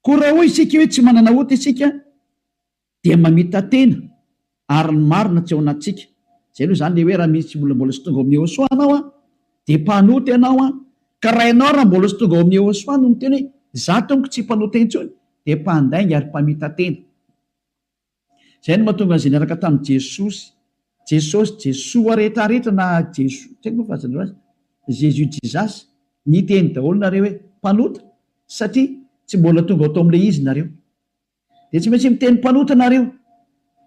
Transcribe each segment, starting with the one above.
Koa raha hoy isika hoe tsy manana ota isika dia mamita-tena ary ny marina tsy ao anatintsika. Izay aloha izany ilay hoe raha misy olona mbola tsy tonga ao amin'ny Yehosua anao dia mpanota ianao, ka raha ianao raha mbola tsy tonga ao amin'ny Yehosua no miteny hoe izaho tompoko tsy mpanota intsony dia mpandainga ary mpamita-tena. Izay no mahatonga an'izay niaraka tamin'i Jesosy, Jesosy, Jesoa rehetra rehetra na Jeso, tsy haiko ny filazanareo azy, Jésus, Jesus, niteny daholo nareo hoe mpanota satria tsy mbola tonga ao tamin'ilay izy nareo. Dia tsy maintsy miteny mpanota nareo.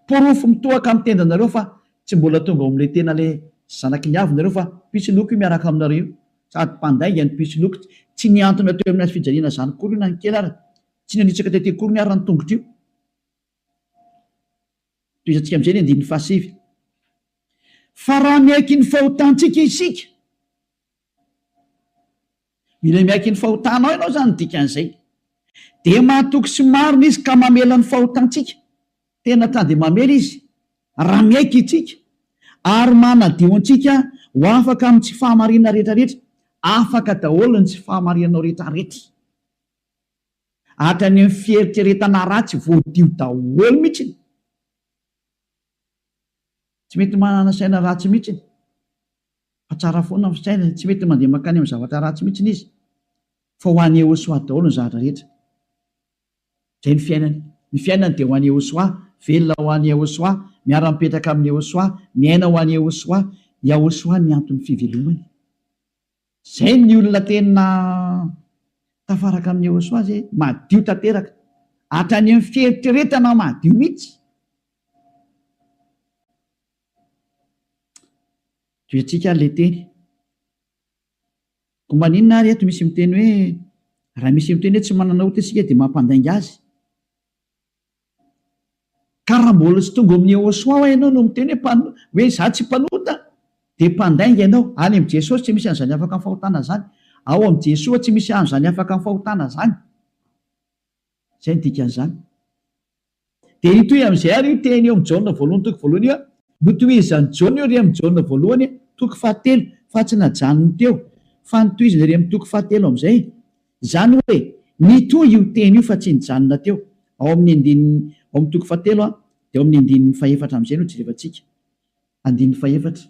Porofo mitohaka amin'ny tendanareo fa tsy mbola tonga ao amin'ilay tena ilay zanaky ny avy nareo fa mpisoloky io miaraka aminareo io. Sady mpandainga ny mpisoloky. Tsy nihantona teo amin'ny hazo fijaliana izany akory io na ny kely ary. Tsy nanitsaka tety akory ny ary ny tongotra io. Tohizantsika amin'izay ny andininy fahasivy. Fa raha miaiky ny fahotantsika isika, mila miaiky ny fahotanao ianao izany ny dikan'izay, dia mahatoky sy marina izy ka mamela ny fahotantsika, tena ka dia mamela izy raha miaiky isika, ary manadio antsika ho afaka amin'ny tsy fahamarinana rehetrarehetra, afaka daholo ny tsy fahamarinanao rehetrarehetra. Hatrany amin'ny fieritreretana ratsy voadio daholo mihitsiny. Tsy mety manana saina ratsy mihitsiny fa tsara foana ny saina, tsy mety mandeha mankany amin'ny zavatra ratsy mihitsiny izy fa ho an'i Yehosua daholo ny zavatra rehetra. Izay ny fiainany. Ny fiainany dia ho an'i Yehosua, velona ho an'i Yehosua, miara-mipetraka amin'i Yehosua, miaina ho an'i Yehosua. Yahosua ny anton'ny fivelomany. Izay ny olona tena tafaraka amin'i Yehosua izay, madio tanteraka, hatrany amin'ny fieritreretana madio mihitsy. Toetsika ilay teny. Koa maninona ary eto misy miteny hoe raha misy miteny hoe tsy manana ota isika dia mampandainga azy? Ka raha mbola tsy tonga ao amin'i Yehosua ho'a ianao no miteny hoe hoe izaho tsy mpanota dia mpandainga ianao. Any amin'i Jesosy tsy misy an'izany afaka amin'ny fahotana izany. Ao amin'i Jesoa tsy misy an'izany afaka amin'ny fahotana izany. Izay no dikan'izany. Dia hitohy amin'izay ary io teny eo amin'i Jaona voalohany toko voalohany io, notohizan'i Jaona io ry amin'i Jaona voalohany toko fahatelo fa tsy najanony teo fa notohizany ry amin'ny toko fahatelo amin'izay. Izany hoe, mitohy io teny io fa tsy nijanona teo, ao amin'ny andininy, ao amin'ny toko fahatelo an, dia ao amin'ny andininy fahefatra amin'izay no jerevantsika. Andininy fahefatra.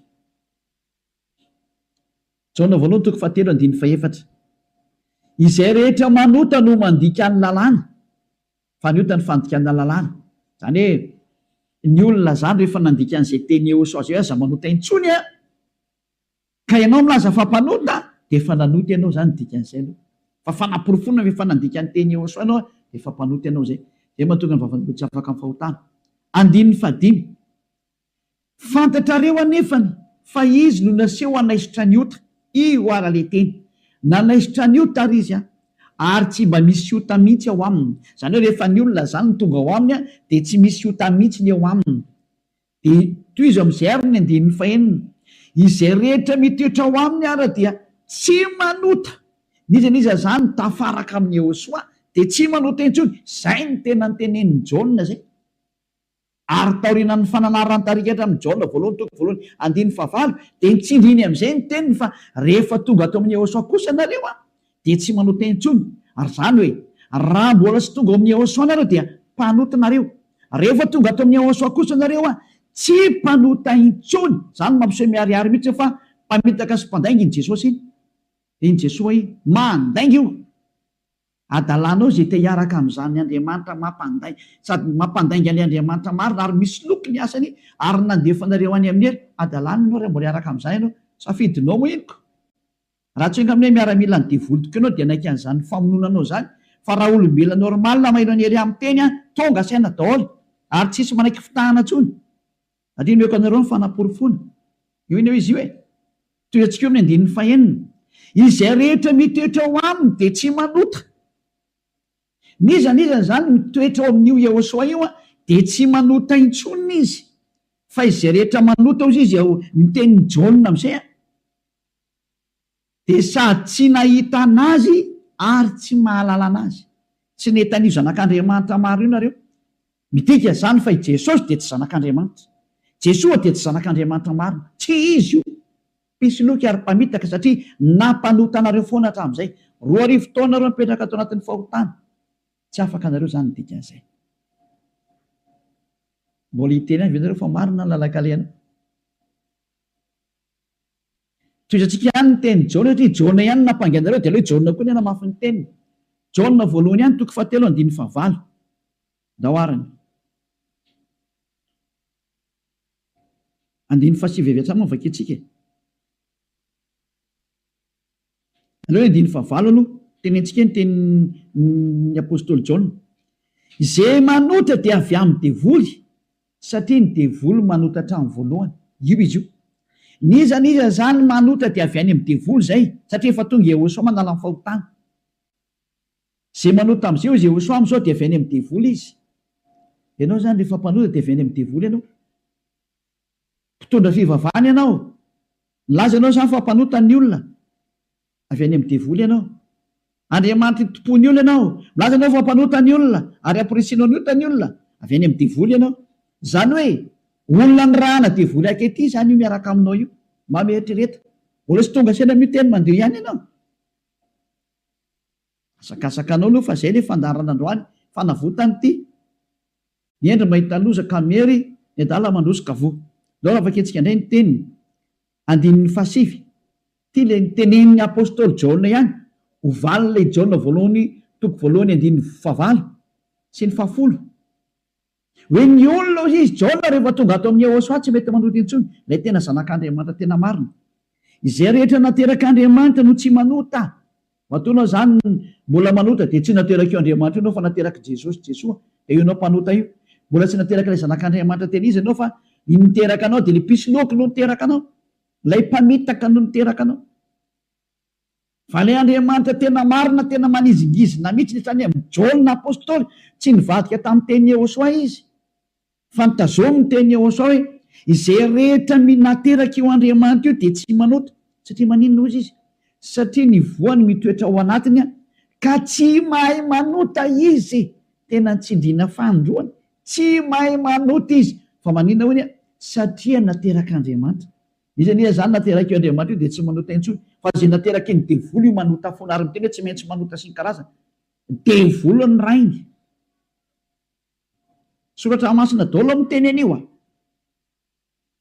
Jaona voalohany toko fahatelo andininy fahefatra. Izay rehetra manota no mandika ny lalàna, fa ny ota ny fandikana lalàna. Izany hoe, ny olona izany rehefa nandika an'izay teny eosao izay hoe aza manota intsony an, Ka ianao milaza fa mpanota dia efa nanota ianao izany dikan'izay aloha fa fanaporofoana ve fa nandika ny teny Yehosua ianao dia efa mpanota ianao izay izay mahatonga ny vavan'olona tsy afaka amin'ny fahotana. Andininy fahadimy. Fantatrareo anefany fa izy no naseho hanaisotra ny ota, io ara le teny, nanaisotra ny ota ary izy an, ary tsy mba misy ota mihitsy ao aminy, izany hoe rehefa ny olona izany no tonga ao aminy dia tsy misy ota mihitsy ny eo aminy. Dia tohizo amin'izay àry ny andininy fahenina, Izay rehetra mitoetra ao aminy àry dia tsy manota, n'iza n'iza izany tafaraka amin'i Iehosoa dia tsy manota intsony. Izay no tena notenenin'i Jaona izay. Ary taorianan'ny fananaran-tarika hatramin'ny Jaona voalohany toko voalohany andininy fahavalo dia nitsindriny amin'izay ny teniny fa rehefa tonga ato amin'i Iehosoa kosa nareo, dia tsy manao teny intsony, ary izany hoe raha mbola tsy tonga ao amin'ny Yehosua nareo dia mpanota nareo, rehefa tonga ato amin'ny Yehosua kosa nareo a, tsy mpanota intsony, izany mampiseho miharihary mihitsy hoe fa mpamitaka sy mpandainga iny Jesosy iny, dia iny Jesosy iny mandainga io adalanao izay te hiaraka amin'izany Andriamanitra mampandai, sady mampandainga an'ilay Andriamanitra marina ary misoloky ny asany ary nandefa anareo any amin'ny adalanany ianao raha mbola hiaraka amin'izany ianao, safidinao moa iny ko, Raha tsy enga amin'ny hoe miaramila ny devoly tokoa ianao dia naika an'izany famonoana anao izany fa raha olombelona normal mailo ny area miteny an tonga saina daholo ary tsisy manaiky fitahana intsony ary io nomeko anareo ny fanaporofoana io anie hoe izy io e toy ny antsika eo amin'ny andininy fahenina izay rehetra mitoetra ao aminy dia tsy manota n'iza n'iza izany mitoetra ao amin'io Yehosoa io an dia tsy manota intsony izy fa izay rehetra manota hozy izy ao ny tenin'i Jaona amin'izay an dia sady tsy nahita an'Azy ary tsy mahalala an'Azy. Tsy nety an'io Zanak'Andriamanitra maro io nareo. Midika izany fa i Jesosy dia tsy Zanak'Andriamanitra. Jesoa dia tsy Zanak'Andriamanitra marina. Tsy Izy io. Mpisoloky ary mpamitaka satria nampanota anareo foana hatramin'izay. Roa arivo taona nareo mipetraka ato anatin'ny fahotana. Tsy afaka nareo izany ny dikan'izay. Mbola hiteny ihany ve nareo fa marina ny lalan-kalehana? Tohizantsika ihany ny tenin'i Jaona satria i Jaona ihany no nampangy anareo dia aleo i Jaona koa ny hanamafy ny teniny. Jaona voalohany ihany toko fahatelo andininy fahavalo. Ndao ary ny. Andininy fahasivy avy hatrany moa no vakiantsika e. Aleo andininy fahavalo aloha, tenentsika ny tenin'ny apostoly Jaona, Izay manota dia avy amin'ny devoly, satria ny devoly manota hatramin'ny voalohany. Io izy io. N'iza n'iza izany manota dia avy any amin'ny devoly izay, satria efa tonga i Iehosoa manala ny fahotana. Izay manota amin'izay hoy Iehosoa amin'izao dia avy any amin'ny devoly izy. Ianao izany rehefa mpanota dia avy any amin'ny devoly ianao. Mpitondra fivavahana ianao? Nilaza ianao izany fa mpanota ny olona? Avy any amin'ny devoly ianao? Andriamanitra itompo ny olona ianao? Milaza ianao fa mpanota ny olona ary hampirisianao ny ota ny olona? Avy any amin'ny devoly ianao? Izany hoe olona nirahana devoly ankehitriny izany io miaraka aminao io? Mba mieritrereta. Mbola tsy tonga saina miteny mandeha ihany ianao? Mahazakazaka anao aloha fa zay le fandaharana androany fanavotany ty ny hendry mahita loza ka miery ny adala mandroso ka voa ndao raha vakintsika ndray ny teniny andininy faha sivy ty le nitenenin'ny apostoly jaona ihany ho valin'ilay jaona voalohany toko voalohany andininy faha valo sy ny faha folo Hoe ny olona hoy izy, Jaona rehefa tonga ato amin'i Yehôsoà tsy mety manota intsony, ilay tena Zanak'Andriamanitra tena marina. Izay rehetra naterak'Andriamanitra no tsy manota. Matoa ianao izany mbola manota dia tsy naterak'io Andriamanitra io ianao fa naterak'i Jesosy, Jesoa, dia io ianao mpanota io. Mbola tsy naterak'ilay Zanak'Andriamanitra tena izy ianao fa ny niteraka anao dia ilay mpisoloky no niteraka anao, ilay mpamitaka no niteraka anao. Vale Andriamanitra tena marina tena manizingizina mitsy ny saina mn Jaona apostoly tsy nivadika tamin'ny teny Yehosoa izy fa ny tazomy ny teny Yehosoa hoe izay rehetra minateraka io Andriamanitra io dia tsy manota satria maninona hozy izy satria ny voany mitoetra ao anatiny ka tsy mahay manota izy tena nitsindriana fanindroany tsy mahay manota izy fa maninona hoy ny satria naterak'Andriamanitra Izy anie izany naterak'io Andriamanitra io dia tsy manota intsony fa izay naterakin'ny devoly io manota foana ary miteny hoe tsy maintsy manota sy ny karazany. Devoly ny rainy. Soratra masina daholo no miteny an'io a!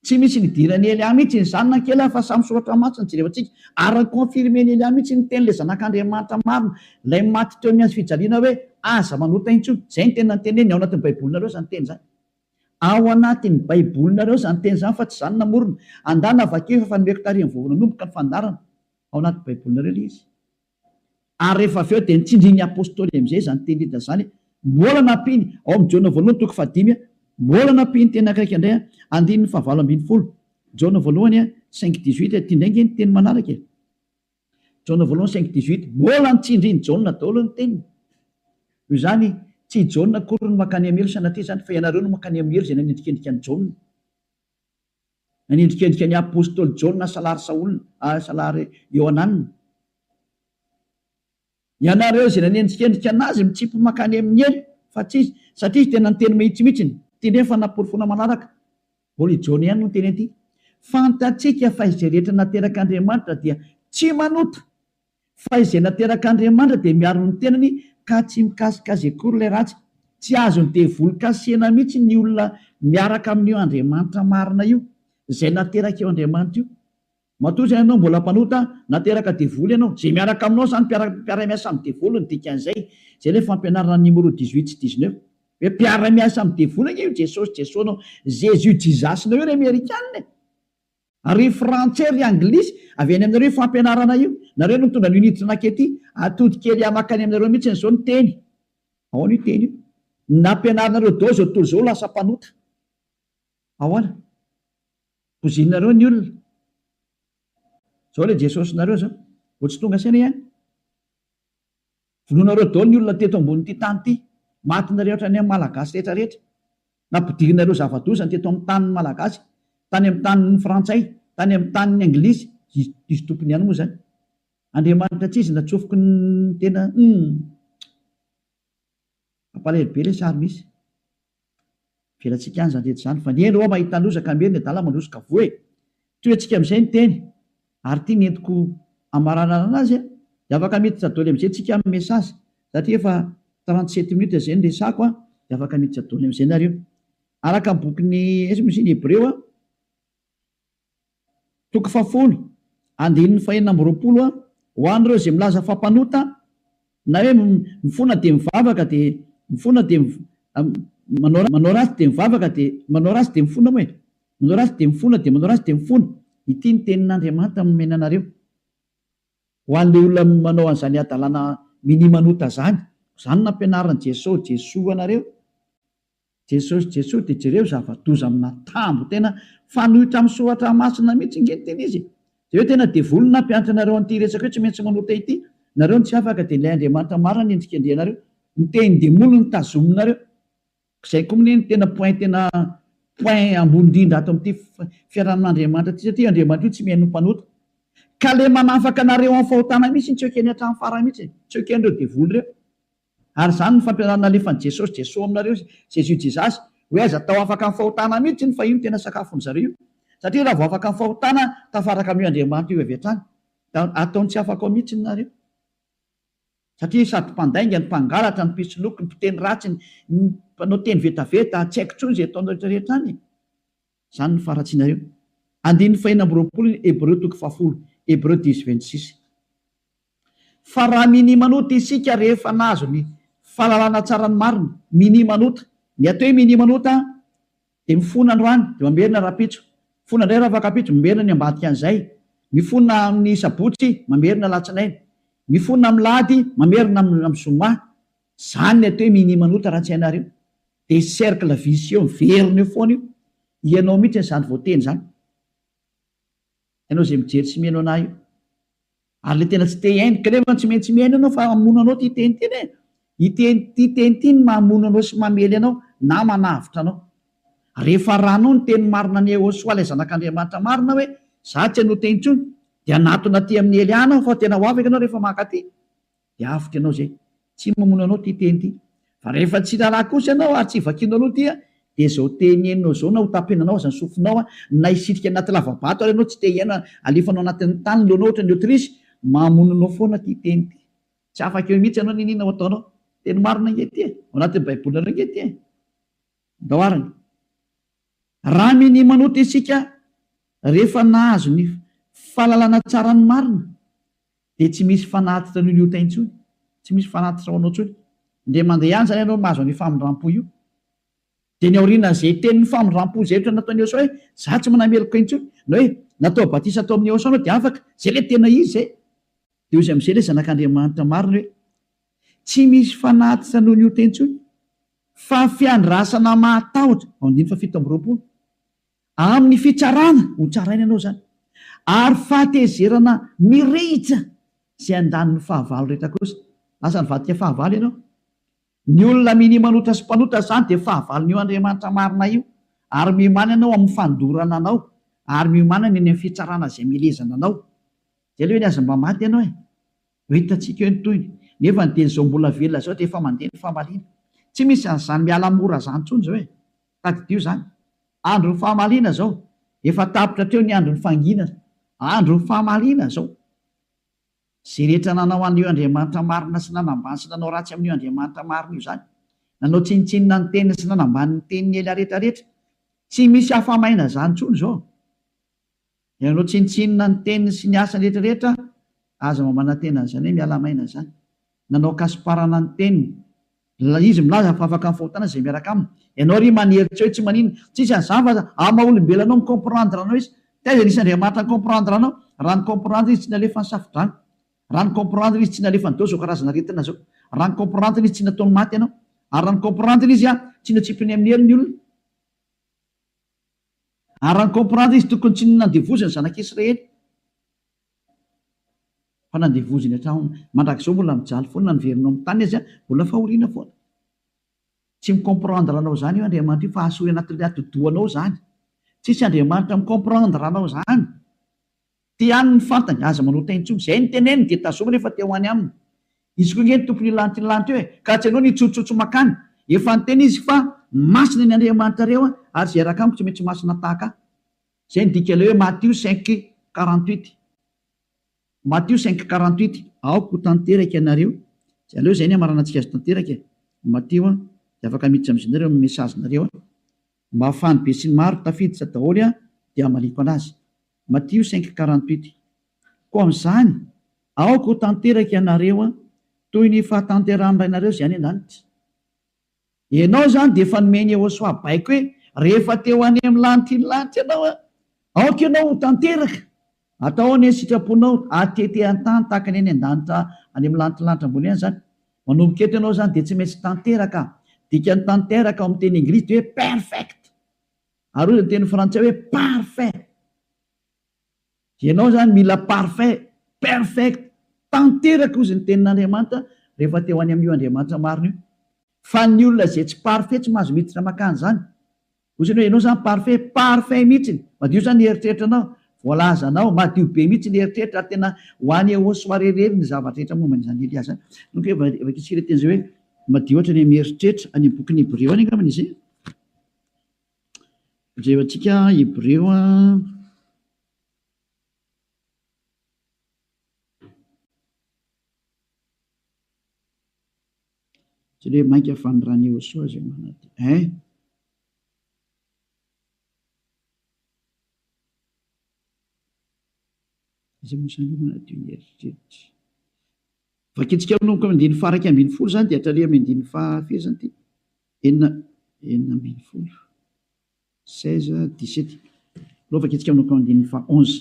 Tsy misy nidiran'i Elia mihitsy izany na kely aza fa samy soratra masina no jerevantsika ary ni-confirmen'i Elia mihitsy ny tenin'ilay zanak'Andriamanitra marina, ilay maty teo amin'ny hazofijaliana hoe aza manota intsony. Izay no tena niteneniny ao anatin'ny baibolinareo izany teny izany. Ao anatin'ny Baibolinareo izany teny izany fa tsy izaho no namorona. Andana vakio efa efa nomeko taorian'ny vao nanomboka ny fandaharana. Ao anaty Baibolinareo ilay izy. Ary rehefa avy eo dia nitsindrin'ny Apostoly amin'izay izany teny Lida izany. Mbola nampiany, ao amin'ny Jaona voalohany toko fahadimy, mbola nampiany teny Greka indray, andininy fahavalo ambin'ny folo, Jaona voalohany cinq dix-huit, ity indray ange ny teny manaraka e. Jaona voalohany cinq dix huit, Mbola notsindrin'i Jaona daholo ny teniny. Noho izany, tsy i Jaona akory no mankany amin'ny helo sanatria izany, fa ianareo no mankany amin'ny helo izay nanendrikendrika an'i Jaona. Nanendrikendrika ny apostoly Jaona salary Saola, salary Iohanana. Ianareo izay nanendrikendrika an'azy mitsimpy mankany amin'ny helo fa tsy izy satria izy tena niteny mahitsy mihitsy ny teny efa naporofona manaraka. Mbola i Jaona ihany no niteny an'ity. Fantatsika fa izay rehetra naterak'Andriamanitra dia tsy manota fa izay naterak'Andriamanitra dia miaro ny tenany ka tsy mikasika azy akory ilay ratsy. Tsy azon'ny devoly kasihina mihitsy ny olona miaraka amin'io Andriamanitra marina io, izay nateraka io Andriamanitra io. Matoa izay ianao mbola mpanota, nateraka devoly ianao, izay miaraka aminao izany mpiara miasa amin'ny devoly no dikan'izay, izay ilay fampianarana an'i Nimoro dix huit sy dix neuf, hoe mpiara miasa amin'ny devoly ange io Jesosy Jesosnao, Jésus Jesus nao io ry amerikana e! ary ry frantsay ry anglisy, avy any aminareo io fampianarana io, nareo no nitondra an'io niditra nakety atody kely ahy makany aminareo mihitsiny izao ny teny, ahoana io teny io nampianarinareo daholo izao tontolo izao ho lasa mpanota. Ahoana? Bozinareo ny olona. Zao le Jesosinareo zao. Vao tsy tonga saina ihany. Vonoinareo daholo ny olona teto ambonin'ity tany ity. Matinareo hatrany amin'ny Malagasy rehetra rehetra. Nampidirinareo zava-doza teto amin'ny tanin'ny Malagasy, tany amin'ny tanin'ny Frantsay, tany amin'ny tanin'ny Anglisy. Diso tompony ihany moa zany. Andriamanitra tsizy natsofoky ny tena humm. Mampalahelo be le sary misy. Avelantsika any izany rehetra izany fa ny eny hoa mahita loza ka miery ny adala mandroso ka voa e! Tohiantsika amin'izay ny teny ary ity ny entiko hamaranarana azy a! Dia afaka miditra doly amin'izay tsika amin'ny message satria efa trente-sept minutes izay ny resako a! Dia afaka miditra doly amin'izay nareo. Araka ny bokin'i Hebreo a! Toko fahafolo, andininy fahenina amby roapolo a Ho an'ireo izay milaza fa mpanota, na hoe mifona dia mivavaka dia mifona dia manao manao ratsy dia mivavaka dia manao ratsy dia mifona moa e! manao ratsy dia mifona dia manao ratsy dia mifona, ity ny tenin'Andriamanitra nomena anareo ho an'ilay olona manao an'izany hadalana mini-manota izany, koa izany nampianarin'i Jeso Jesoa anareo. Jesosy Jesosy de jereo zavadoza amina tambo tena fanoitra am soratra masina mitsy nge ny tena izy e! de hoe tena devoly ny nampianatra anareo anty resaka io tsy maintsy manota ity nareo no tsy afaka de ilay Andriamanitra marina ny endrikendrihanareo ny tehin demoly no tazominareo zay ko mne ny tena point tena point ambony indrindra ato amty fiarahan Andriamanitra ty satria io Andriamanitra io tsy mihaino ny mpanota ka le manafaka anareo am fahotana mitsy tsy ekeny atram fara mitsy e! tsy ekenreo devoly reo. Ary izany no fampianarana nalefan'i Jesosy Jeso aminareo izy, Jésus Jesus, hoe aiza tao afaka ny fahotana mihitsy iny fa io no tena sakafon'ny zareo io. Satria raha vao afaka ny fahotana tafaraka amin'io Andriamanitra io avy hatrany. Da ataony tsy afaka ao mihitsy ny nareo. Satria sady mpandainga ny mpangalatra ny mpisoloky ny mpiteny ratsy ny mpanao teny vetaveta tsy haiko intsony izay ataonareo rehetra any e. Izany no faharatsianareo. Andininy fahenina amby roapolo ny Hebreo toko fahafolo, Hebreu dix vingt six. Fa raha minia manota isika rehefa nahazo ny fahalalana tsara ny marina, minia manota, ny atao hoe minia manota dia mifona androany dia mamerina rahampitso, mifona indray rafakampitso, mamerina ny ambadikan'izay, mifona amin'ny sabotsy, mamerina alatsinainy, mifona amin'ny lahady, mamerina amin'ny zoma. Izany ny atao hoe minia manota raha tsy hainareo. Dia cercle vicieux miverina eo foana io, ianao mihitsy izany voateny izany, ianao izay mijery sy mihaino anah io, ary ilay tena tsy te hihaino, ka nefa tsy maintsy mihaino ianao fa hamono anao ity teny ity e, ity ity teny ity no mahamono anao sy mamely anao na manavotra anao, rehefa arahanao ny teny marina an'i Yehosua ilay zanak'Andriamanitra marina hoe izaho tsy hanota intsony, dia hanatona aty amin'ny Hely Ana aho fa tena ho afaka ianao rehefa mankaty. dia avotra ianao izay. Tsy mamono anao ity teny ity. Fa rehefa tsy raharaha kosa ianao ary tsy vakianao aloha ity dia izao teny henonao izao na ho tapenanao aza ny sofinao na hisitrika anaty lavabato ary ianao tsy te hihaino alefanao anatin'ny tany ny lohanao ohatran'ny autruche, mamono anao foana ity teny ity. Tsy afaka eo mihitsy ianao n'inona ho ataonao. Teny marina ange ity e! Ao anatin'ny baibolinareo ange ity e! Andao arany. Rami ny manota isika rehefa nahazo ny fahalalana tsara ny marina dia tsy misy fanatitra an'io liota intsony, tsy misy fanatitra ho anao intsony, indray mandeha ihany izany ianao mahazo an'io famindrampo io. Dia ny aorian'izay tenin'ny famindrampo izay ohatra nataon'i Eosaoa hoe za tsy manameloka intsony, na hoe natao batisa tao amin'i Eosaoa anao dia afaka, zay ilay tena izy zay. Dia hoy izy amin'izay ilay zanak'Andriamanitra marina hoe tsy misy fanatitra noho ny ota intsony, Fa ny fiandrasana mahatahotra, andininy fahafito amby roapolo, amin'ny fitsarana, ho tsaraina ianao izany, ary fahatezerana mirehitra izay andanin'ny fahavalo rehetra kosa, lasa nivadika fahavalo ianao. Ny olona minia manota sy mpanota izany dia fahavalon'io Andriamanitra marina io, ary miomàna ianao amin'ny fandorana anao, ary miomàna ny eny amin'ny fitsarana izay milezana anao. Izay aloha ve ny azy mba maty ianao e! Ho hitantsika eo ny tohiny. Nefa ny teny izao mbola velona izao dia efa mandeha ny famaliana. Tsy misy an'izany miala mora izany intsony izao e! Tadidio izany. Andron'ny famaliana izao. Efa tapitra hatreo ny andron'ny fangina. Andron'ny famaliana izao. Izay rehetra nanao an'io Andriamanitra marina sy nanambany sy nanao ratsy amin'io Andriamanitra marina io izany. Nanao tsinontsinona ny teniny sy nanambany ny teniny ela rehetra rehetra. Tsy misy afa-maina izany intsony izao. Ianao tsinontsinona ny teniny sy ny asany rehetra rehetra aza mba manantena an'izany hoe miala maina izany. Nanao kasiparana ny teniny. Ilay izy milaza fa afaka mifahotana izay miaraka aminy. Ianao ry maniry tsy hoe tsy maninona. Tsisy an'izany fa aza amin'ny maha olombelona anao mi-comprendre anao izy. Taiza nisy Andriamanitra ni-comprendre anao? Raha ni-comprendre izy tsy nalefa ny safodrano. Raha ni-comprendre izy tsy nalefa nidao izao karazana aretina izao. Raha ni-comprendre izy tsy nataony maty ianao. Ary raha ni-comprendre izy tsy notsipiny amin'ny hery ny olona. Ary incomprendre izy tokony tsy nandevozy ny zanak'i Israely fa nandevozy ny hatrany. Mandrakizao mbola mijaly foana na niverina ao amin'ny tany aza mbola fahoriana foana. Tsy mi-comprendre anao izany io Andriamanitra io fa asory anatin'ny atidohanao izany. Tsisy Andriamanitra mi-comprendre anao izany. Te haniny ny fantany, aza manao tay intsony. Izay no teneniny dia tazominy efa te ho any aminy. Izy koa nge ny tompony hilanty ny lanty eo e! Ka tsy anao ny hitsotsotso makany. Efa niteny izy fa masina ny Andriamanitrareo a! ary izay hiaraka amiko tsy maintsy masina tahaka ahy. Izay no dika ilay hoe Matio cinq quarante huit. Matio cinq quarante huit. Aoka ho tanteraka ianareo. Tsy aleo izay ny hamaranantsika azy tanteraka e! Matio a! dia afaka miditra amin'izy nareo amin'ny message nareo a! Mba ahafahan'ny besinimaro tafiditra daholo aho dia hamaliako anazy. Matio cinq quarante huit Koa amin'izany, aoka ho tanteraka ianareo toy ny fahatanterahan'ny Rainareo izay any an-danitra. Ianao izany dia efa nomeny Yehosoa baiko hoe rehefa te ho any amin'ny lanitr'iny lanitra ianao, aoka ianao ho tanteraka. Atao anie ny sitraponao hatete an-tany tahaka ny any an-danitra any amin'ny lanitr'ny lanitra ambony any izany. Manomboka eto ianao izany dia tsy maintsy tanteraka. Dikan'ny tanteraka ao amin'ny teny englisy dia hoe perfect. Ary hoy ny teny frantsay hoe parfait. Ianao izany mila parfait, perfect, tanteraka hozy ny tenin'Andriamanitra rehefa te ho any amin'io Andriamanitra marina io. Fa ny olona izay tsy parfait tsy mahazo miditra makany izany. Hoy izany hoe ianao izany parfait, parfait mihitsy, madio izany ny eritreritranao, voalazanao, madio be mihitsy ny eritreritra ary tena ho any au soirée irery ny zavatra rehetra momba an'izany Elia izany. Donc hoe vakiantsika ilay teny izay hoe madio hatrany amin'ny eritreritra, any amin'ny bokin'ny Hebreo any angambany izay. Jereo antsika Hebreo Jereo hoe mainka fanondran'i Iehosoa izay manantena eh! Izay mosaliana manadio ny heritreritra. Vakintsika manomboka amin'ny andininy faharaika ambin'ny folo izany dia hatraria amin'ny andininy faha firy izany ity? Enina enina ambin'ny folo. Seize, dix-sept. Aleo vakintsika manomboka amin'ny andininy faha onze.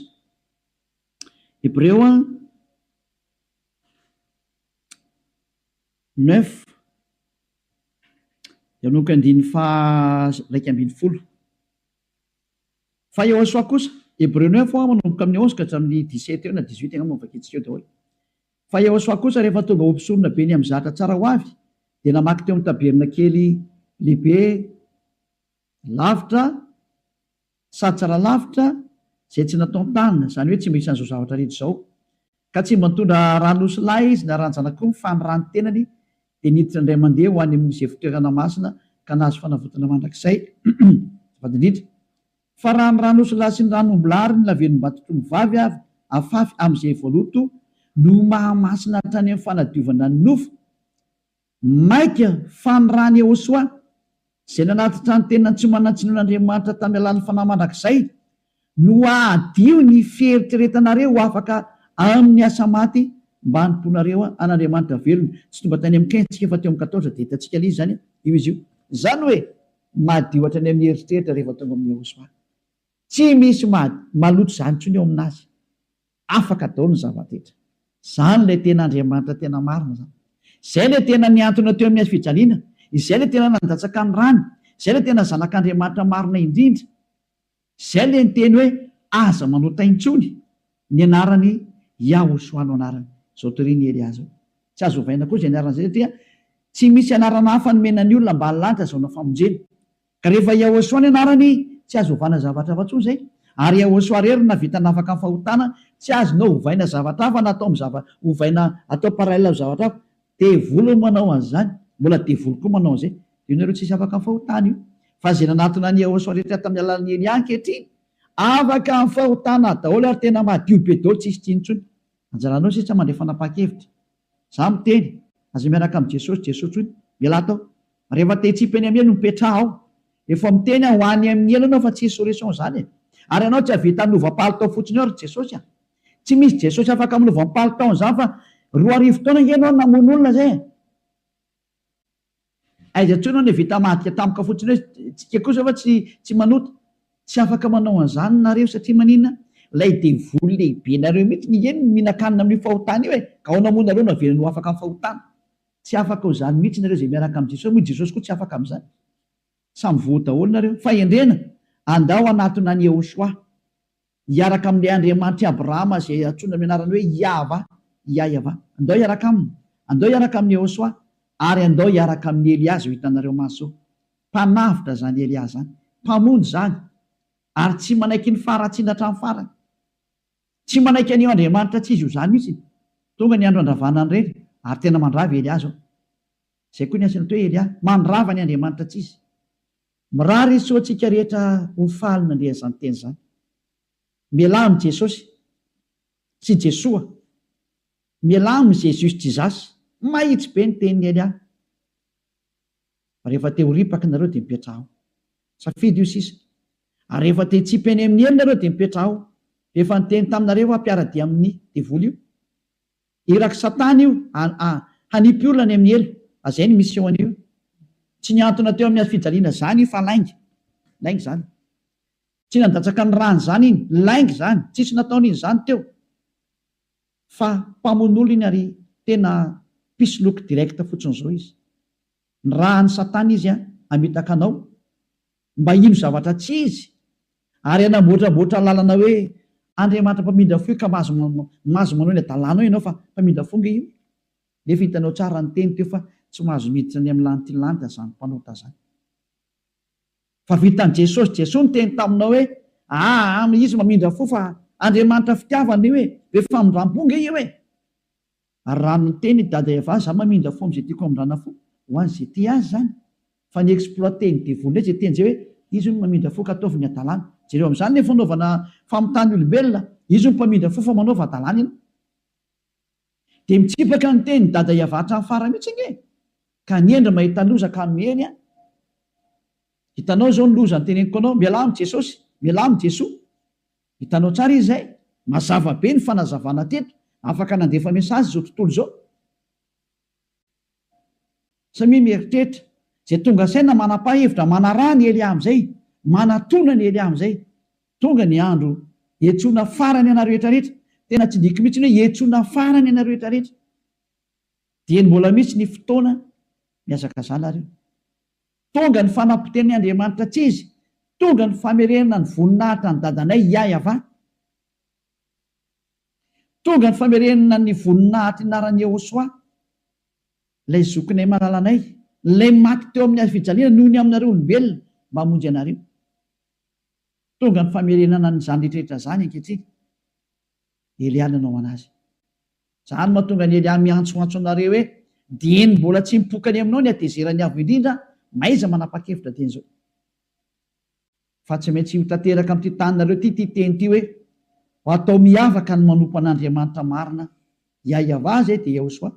Hebreo a, neuf dia manomboka andininy faha raika ambin'ny folo. Fa Yehosua kosa, Hebreo neuf ho'a manomboka amin'ny onze ka hatramin'ny dix sept eo na dix huit angamba no vakintsika eo daholo. Fa Yehosua kosa rehefa tonga ho mpisoronabe ny amin'ny zahatra tsara ho avy dia namaky teo amin'ny tabernakely lehibe lavitra sady tsara lavitra izay tsy nataon-tanana, izany hoe tsy mba isan'izao zavatra rehetra izao, Ka tsy mba nitondra ran'osilahy izy naranjana akoho fa ny ràn'ny tenany dia niditra indray mandeha ho any amin'izay fitoerana masina ka nahazo fanavotana mandrakizay, azafady indrindra fa raha ny ran'osilahy sy ny ran'ombilahy ary ny lavenom-batotr'omby vavy avy afafy amin'izay voaloto no mahamasina hatrany amin'ny fanadiovana ny nofo, Maika fa ny rany Yehosoa, izay nanatitra ny tenany tsy manan-tsiny ho an'Andriamanitra tamin'ny alalan'ny fanahy mandrakizay, no hahadio ny fieritreretanareo ho afaka amin'ny asa maty mba hanompoanareo an'Andriamanitra velona. Tsy tonga tany amin'ny Qintsika fa teo amin'ny Quatorze dia hitantsika ilay izy izany io izy io. Izany hoe madio hatrany amin'ny eritreritra rehefa tonga amin'i Yehosoa. Tsy misy maloto izany intsony eo amin'azy. Afaka daolo ny zavatetra. Zany ilay tena Andriamanitra tena marina zany. Izay ilay tena niantona teo amin'ny hazofijaliana, izay ilay tena nandatsaka ny rany, izay ilay tena zanak'Andriamanitra marina indrindra. Izay ilay niteny hoe aza manota intsony ny anarany Yahushua no anarany. Izao torian'i Elia izao. Tsy azo ovaina koa izay anarana izay satria tsy misy anarana hafa nomena ny olona ambany lanitra azahoana famonjena. Ka rehefa Yahosua ny anarany tsy azo ovana zavatra hafa tsony zay, ary Yahosua rery no navita nafaka ny fahotana, tsy azonao hovaina zavatra hafa na atao am zava hovaina atao parallel am zavatra hafa, devoly no manao anzany, mbola devoly koa manao anzay, de io nareo tsisy afaka am fahotana io, fa ze nanatona an Yahosua rehetra tam alalan Elia ankehitriny afaka am fahotana daolo ary tena madio be daolo tsisy tsiny tsony, anjaranao sisa mandray fanapakevitra Za miteny, aza miaraka amin'i Jesosy Jesosy hono, ialahy tao. Rehefa te hitsipa eny amin'ny elo no mipetraha ao. Efa miteny aho ho any amin'ny elo ianao fa tsy hisy solution izany e. Ary ianao tsy hahavita hanova palitao fotsiny eo ry Jesosy a. Tsy misy Jesosy afaka manova ny palitaon'izany fa roa arivo taona ange ianao no namono olona izay e. Aiza intsony hono i Vita mahadika tampoka fotsiny hoe tsika kosa va tsy tsy manota? Tsy afaka manao an'izany nareo satria maninona? Ilay devoly lehibe nareo mihitsy ny eny no mihinan-kanina amin'io fahotana io e! Ka aona moa nareo no avelany ho afaka amin'ny fahotana? Tsy afaka ho izany mihitsy nareo izay miaraka amin'i Jesosy moa i Jesosy koa tsy afaka amin'izany. Samy voa daholo nareo. Fahendrena! Andao hanatona an'i Yehoshuah. Hiaraka amin'ilay Andriamanitr'i Abrahama izay antsoina amin'ny anarany hoe Iahvah, Iaiavah. Andao hiaraka aminy. Andao hiaraka amin'i Yehosua, ary andao hiaraka amin'i Elia izao hitanareo mantsy izao. Mpanavotra izany Elia izany. Mpamonjy izany. Ary tsy manaiky ny faharatsiana hatramin'ny farany. Tsy manaiky an'io Andriamanitra tsy izy io izany mihitsy. Tonga ny andro handravana ny reny, ary tena mandrava i Elia izao. Izay koa ny asan'ito hoe Elia, mandrava ny Andriamanitra tsy izy. Mirary isoa antsika rehetra ho faly nandre an'izany teny izany. Mialà amin'i Jesosy, sy Jesoa, mialà amin'i Jesus Jesus. Mahitsy be ny tenin'i Elia. Rehefa te ho ripaka nareo dia mipetrahao. Safidy io sisa. Ary rehefa te hitsipy eny amin'ny helony nareo dia mipetrahao. Rehefa niteny taminareo aho mpiara-dia amin'ny devoly io. Irak'i Satana io hanipy olona any amin'ny helo. Azay ny mission-ny io. Tsy nihantona teo amin'ny hazofijaliana izany io fa lainga. Lainga izany. Tsy nandatsaka ny ràny izany iny. Lainga izany. Tsisy nataony iny izany teo. Fa mpamono olona iny ary tena mpisoloky direct fotsiny izao izy. Ny ràn'i Satana izy hamitaka anao. mba hino zavatra tsy izy, ary hanamboatramboatra lalana hoe Andriamanitra mpamindra fo io ka mahazo mahazo manao ny hadalana ao ianao fa mpamindra fo nge io nefa hitanao tsara ny teny teo fa tsy mahazo miditra ny amin'ny lanitry ny lanitra zany mpanota zany fa vitan'i Jesosy Jesoa niteny taminao hoe aa izy mamindra fo fa Andriamanitra fitiavana io e be famindram-po nge io e Ary raha miteny i Dada Eva za mamindra fo amzay tiako amindrana fo ho an ze tia azy zany fa ny exploiter ny devoly ndray ze teny zay hoe izy hono mamindra fo ka ataovy ny adalana jereo amzany le fanaovana famitany olombelona izy hono mpamindra fo fa manaova adalana ianao de mitsipaka ny teny Dada Eva hatram farany mitsy ange ka ny hendry mahita loza ka miely an hitanao zao ny loza ny teneniko anao mialà am jesosy mialà am jesoa Hitanao tsara izy izay? Mazava be ny fanazavana teto. Afaka nandefa message izao tontolo izao. Samia mieritreritra. Izay tonga ansaina manapa hevitra, manaraha ny Elia amin'izay, manatona ny Elia amin'izay. Tonga ny andro hiantsoana farany anareo rehetra rehetra. Tena tsy diko mihitsy ny hoe hiantsoana farany anareo rehetra rehetra. Dieny mbola misy ny fotoana mihazakazana ary io. Tonga ny fanapoteni Andriamanitra tsy izy, tonga ny famerenana ny voninahitra an'i Dadanay Iaiavà. Tonga ny famerenana ny voninahitry ny anaran'i Iehosoa, ilay zokinay malalanay, ilay maty teo amin'ny hazo fijaliana noho ny aminareo olombelona mba hamonjy anareo. Tonga ny famerenana an'izany rehetra rehetra izany ankehitriny. Elia nanao ho an'azy. Izany no mahatonga an'i Elia miantsoantso anareo hoe, Dieny mbola tsy mipoka any aminao ny hatezeran'ny Avo Indrindra, mahaiza manapa-kevitra dieny izao. Fa tsy maintsy ho tanteraka amin'ity taninareo ity ity teny ity hoe, Ho atao miavaka ny manompo an'Andriamanitra marina, Iahiavah izay dia Iahosoa,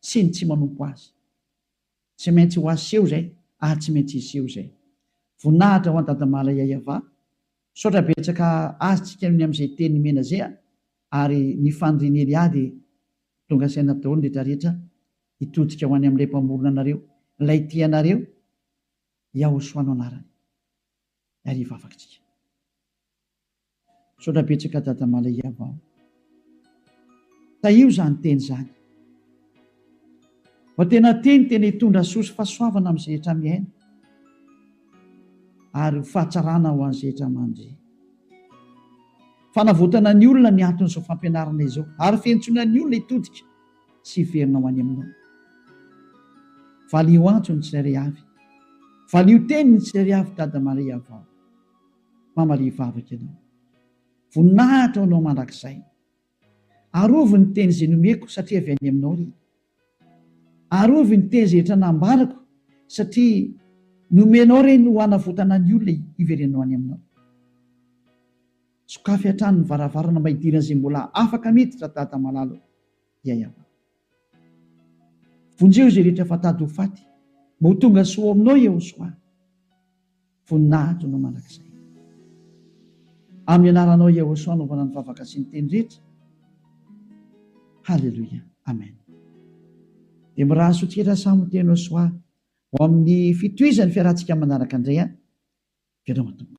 sy ny tsy manompo azy. Tsy maintsy ho aseho izay, ary tsy maintsy hiseho izay. Voninahitra ho an'i Dadamala Iahiavah, Misaotra betsaka azy tsika ny amzay teny nomena zay a! ary ny fanirian'i Elia dia tonga saina daholo ny rehetra rehetra hitodika ho any amin'ilay mpamorona anareo, ilay tia anareo, Yahoshua no anarany. Ary hivavaka tsika. Misaotra betsaka Dada Malay Yavao. Tahio izany teny izany fa tena teny tena hitondra soa sy fahasoavana amin'ny zehetra miaina ary ho fahatsarana ho an'ny zehetra mandry. Fanavotana ny olona ny anton'izao fampianarana izao ary fiantsoana ny olona hitodika sy hiverina ho any Aminao. Valio antso ny tsirairay avy, valio teny ny tsirairay avy Dada Maria vao mamalia vavaka Ianao. Voninahitra ho Anao mandrakizay. Arovy ny teny izay nomeko satria avy any Aminao ry. Arovy ny teny izay efa nambarako satria nomenao ireny ho hanavotana ny olona hiverenanao any Aminao. Sokafy hatrany ny varavarana mba hidiran'izay mbola afaka miditra Dada malala o. Ya Yavah. Vonjeo izay rehetra efa tady ho faty mba ho tonga soa ao Aminao Yehosoa. Voninahitro Anao mandrakizay. Amin'ny anaranao Yahosua anaovana ny vavaka sy ny teny rehetra. Haleloia. Amen. Dia mirary soa tsikera samy teny Yahosua ho amin'ny fitohizan'ny fiarahantsika manaraka indray an. Veloma Tompo.